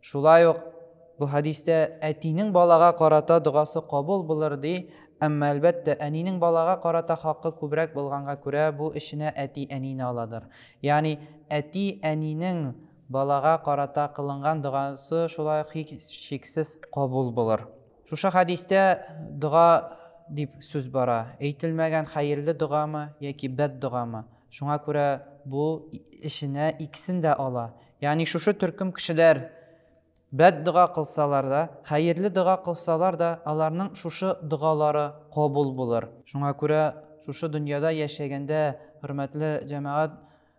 Шулай ук бу хәдистә әтинең балага карата догасы кабул булыр, ди, әмма, әлбәттә, әнинең балага карата хакы күбрәк булганга күрә, бу эченә әти-әнине аладыр. Ягъни, әти-әнинең балага карата кылынган догасы шулай ук һичшиксез кабул булыр. Шушы хәдистә дога дип сүз бара, әйтелмәгән хәерле догамы яки бәддогамы, шуңа күрә бу эченә икесен дә ала, Ягъни шушы төркем кешеләр бәддога кылсалар да, хәерле дога кылсалар да, аларның шушы догалары кабул булыр. Шуңа күрә шушы дөньяда яшәгәндә, хөрмәтле җәмәгать,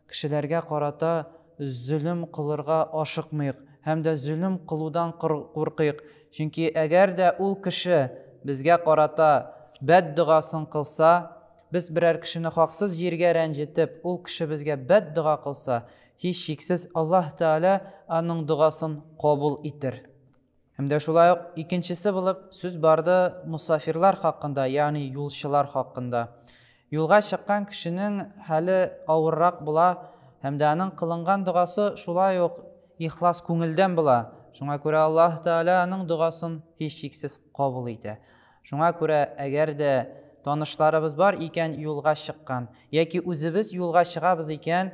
кешеләргә карата зөлем кылырга ашыкмыйк һәм дә зөлем кылудан куркыйк. Чөнки әгәр дә ул кеше безгә карата бәддогасын кылса, без берәр кешене хаксыз җиргә рәнҗетеп, ул кеше безгә бәддога кылса, Һичшиксез, Аллаһ Тәгалә аның догасын кабул итер. Һәм дә шулай ук икенчесе булып сүз барды мосафирлар хакында, ягъни юлчылар хакында. Юлга чыккан кешенең хәле авыррак була һәм дә аның кылынган догасы шулай ук ихлас күңелдән була, шуңа күрә Аллаһ Тәгалә аның догасын һичшиксез кабул итә. Шуңа күрә әгәр дә танышларыбыз бар икән юлга чыккан, яки үзебез юлга чыгабыз икән,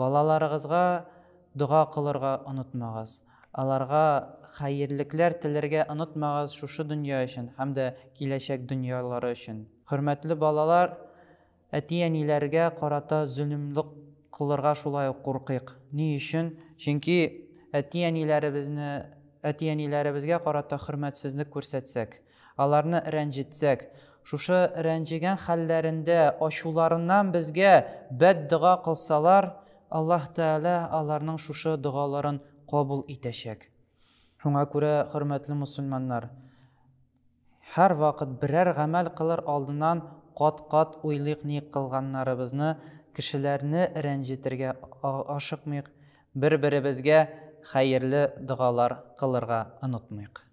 Балаларыгызга дога кылырга онытмагыз, аларга хәерлекләр теләргә онытмагыз шушы дөнья өчен һәм дә киләчәк дөньялары өчен. Хөрмәтле балалар, әти-әниләргә карата зөлемлек кылырга шулай ук куркыйк. Ни өчен? Чөнки әти-әниләребезне әти-әниләребезгә карата хөрмәтсезлек күрсәтсәк, Аларны рәнҗетсәк, шушы рәнҗегән хәлләрендә ачуларыннан безгә бәддога кылсалар, Аллаһ Тәгалә аларның шушы догаларын кабул итәчәк. Шуңа күрә, хөрмәтле мөселманнар, һәрвакыт берәр гамәл кылыр алдыннан кат-кат уйлыйк, ни кылганнарыбызны кешеләрне рәнҗетергә ашыкмыйк, бер-беребезгә хәерле догалар кылырга онытмыйк.